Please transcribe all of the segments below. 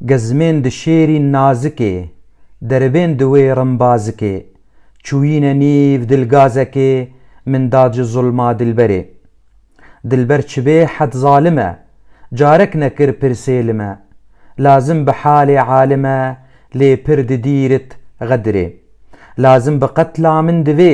Gezmên di şêrîn nazikê, deribên di wê rimbazikê, çûyîne nîv dilgazekê, min da ci zulma dilberê. Dilber çi bê hed zalim e, carek nekir pirsê li me, lazim bi halê alim e, lê pir di dîrit xedirê. Lazim bi qetla min divê,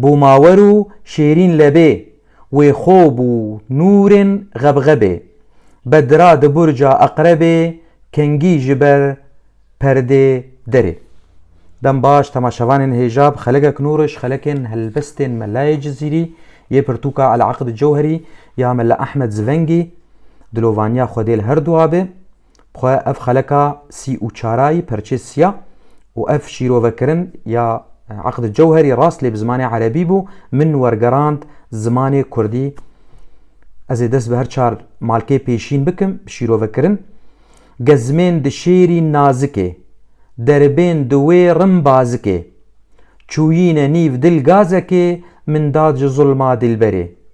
Bû mawer û şêrîn lebê. Wê xo bû nûrên xebxebê. Bedra di burca Eqrebê kengî ji ber perdê derê. Dem baş temaşevanên hêja bi xelekek nûr û ji xelekên helbestên Melayê Cizîrî yê pirtûka Eleaqd Cewherî ya Mela Ehmed Zivengî, dilovaniya Xwedê li herdu abe, bi xwe ev xeleka sî û çarayî perçê siya û ev şîrovekirin ya Eqd Cewherî rast lê bi zimanê erebî bû, min wergerand zimanê kurdî. Ez ê dest bi her çar malkê pêşîn bikim bi şîrovekirin. Gezmên di şêrî nazikê, deribên di wê rim bazikê. Çûyîne nîv dil gazekê, min dad ji zulma dîlberê.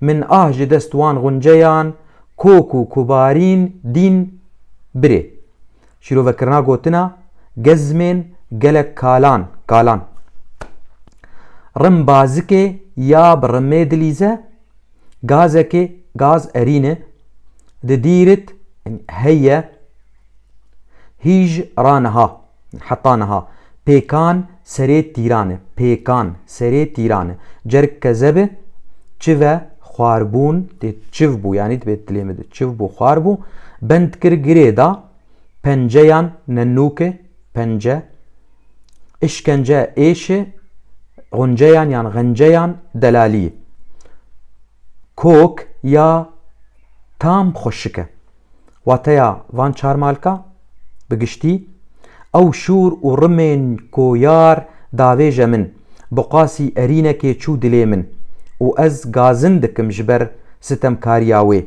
Min ah ji dest wan gunceyan kok û kubarîn dîn birê. Şîrovekirina gotina Gezmên gelek kalan kalan. Rim bazikê ya bi rimê dilîze, gazekê gaz erîne, di dîrit heye. Hîj ra niha, heta niha, pêkan serê tîran e, pêkan serê tîran e. Cerg ke zebe, çive, xwar bûn, tê çiv bû yanî dibê dilê min de çiv bû, xwar bû, bend kir girê da, penceyan nenûke, pence, îşkence êşe, xunceyan yan xenceyan delalîye. Kok ya tam xweşik e. Wateya van çar malka bi giştî, ew şûr û rimên ku yar davêje min, bi qasî erînekê çû dilê min û ez gazin dikim ji ber sitemkariya wê.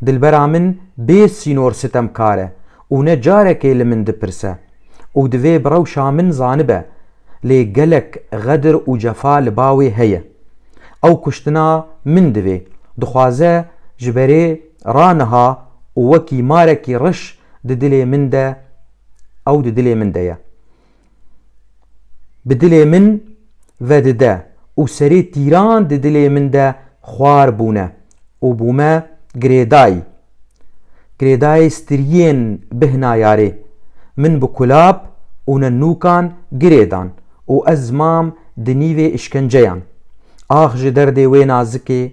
Dilbera min bê sînor sitemkar e û ne carekê li min dipirse û divê bi rewşa min zanibe, lê gelek xedir û cefa li ba wê heye. Ew kuştina min divê, dixwaze ji berê. Ra niha û wekî marekî riş di dilê min de ew di dilê min de ye. Bi dilê min vedide û serê tîran di dilê min de xwar bûne û bûme girêdayî. Girêdayê striyên bihna yarê. Min bi kulap û nenûkan girê dan û ez mam di nîvê îşkenceyan. Ax ji derdê wê nazikê.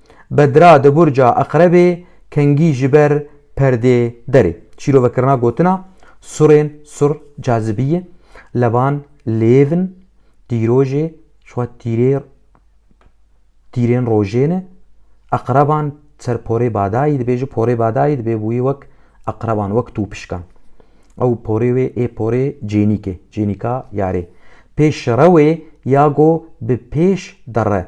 Bedra di burca Eqrebê kengî ji ber perdê derê. Çîrovekirina gotina Surên sur cazibiyê, levan lêv in, dîrojê ji xwe tîrê tîrên rojê ne. Eqreban ser porê badayî dibê, ji porê badayî dibê bûyî wek eqreban, wek tûpişkan. Ew porê wê ê porê cênîk e, cênîka yarê. Pê şire wê ya go bi pêş derre.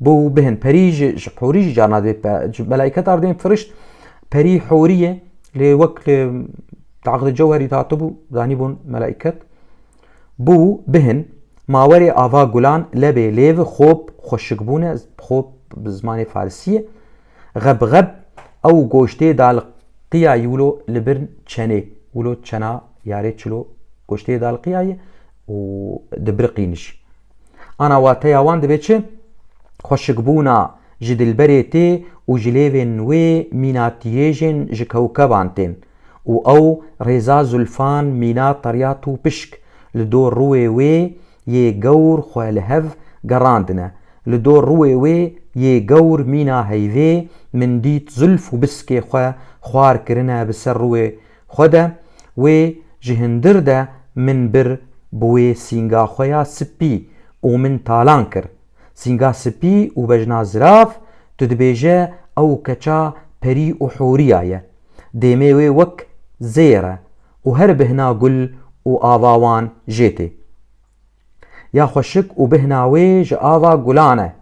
Bo bihin perî ji ji horî jî carna dê ji melaîketa erdên firişt perî horî ye lê wek li taqdi cewherî hatibû zanîbûn melaîket. Bo bihin mawerê ava gulan lebê lêv xop xweşikbûne xop bi zimanê farisî ye. Xeb xeb ew goştê da li qiyayî wilo li bir çenê wilo çena yarê çilo goştê da li qiyayî û dibiriqîn jî. Ana wateya wan dibe çi? Xweşikbûna ji dilberê tê û ji lêvên wê mîna tiyêjên ji kewkeban tên û ew rêza zulfan mîna Teryat û Pişk li dor rûê wê yê gewr xwe li hev gerandine. Li dor rûê wê yê gewr mîna heyvê min dît zulf û biskê xwe xwar kirine bi ser rûê Xwe de wê ji hundir de min bir bi wê sînga xwe ya sipî û min talan kir. Sînga sipî û bejna zirav, tu dibêje ew keça perî û hûriya ye. Dêmê wê wek zêr e û her bihna gul û ava wan jê tê. Ya xweşik û bihna wê ji ava gulan e.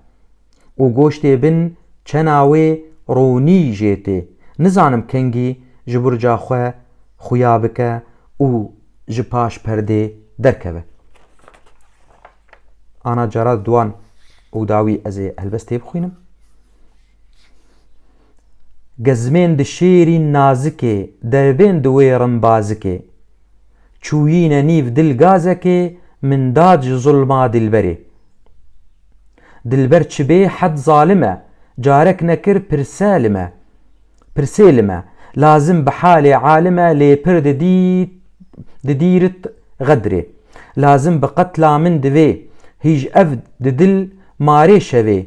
Û goştê bin çena wê ronî jê tê. Nizanim kengî ji burca xwe xuya bike û ji paş perdê derkeve. Ana cara di wan û dawî ez ê helbest tê bixwînim. Gezmên di şêrîn nazikê, dervên di wê rin bazikê. Çûyîne nîv dil gazekê, min dad ji zulma dilberê. Dilber çi bê hed zalim e, carek nekir pirse li me. Pirsê li me, lazim bi halê alim e lê pir di dîrit xedrê. Lazim bi qetla min divê, hîj ev di dil marê şevê,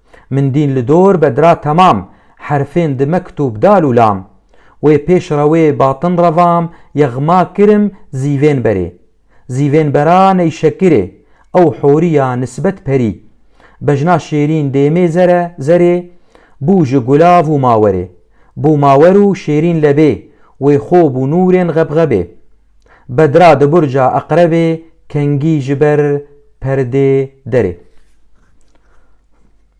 Min dîn li dor be dira temam, herfên di mektûb dal û lam. Wê pêş re wê batin revam, yexma kirim zîvên berê. Zîvên bera ney şekirê, ew horî ya nisbet perî. Bejna şêrîn dêmê zere, zerê, bû ji gulav û mawerê. Bû mawer û şêrîn lebê, wê xo bû nûrên xebxebê. Bedra di burca Eqrebê kengî ji ber perdê derê.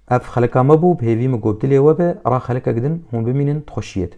Ev xelika me bû, bi hêvî min got dilê we be, ra xelikek din hûn bimînin, tu xweşiyê di.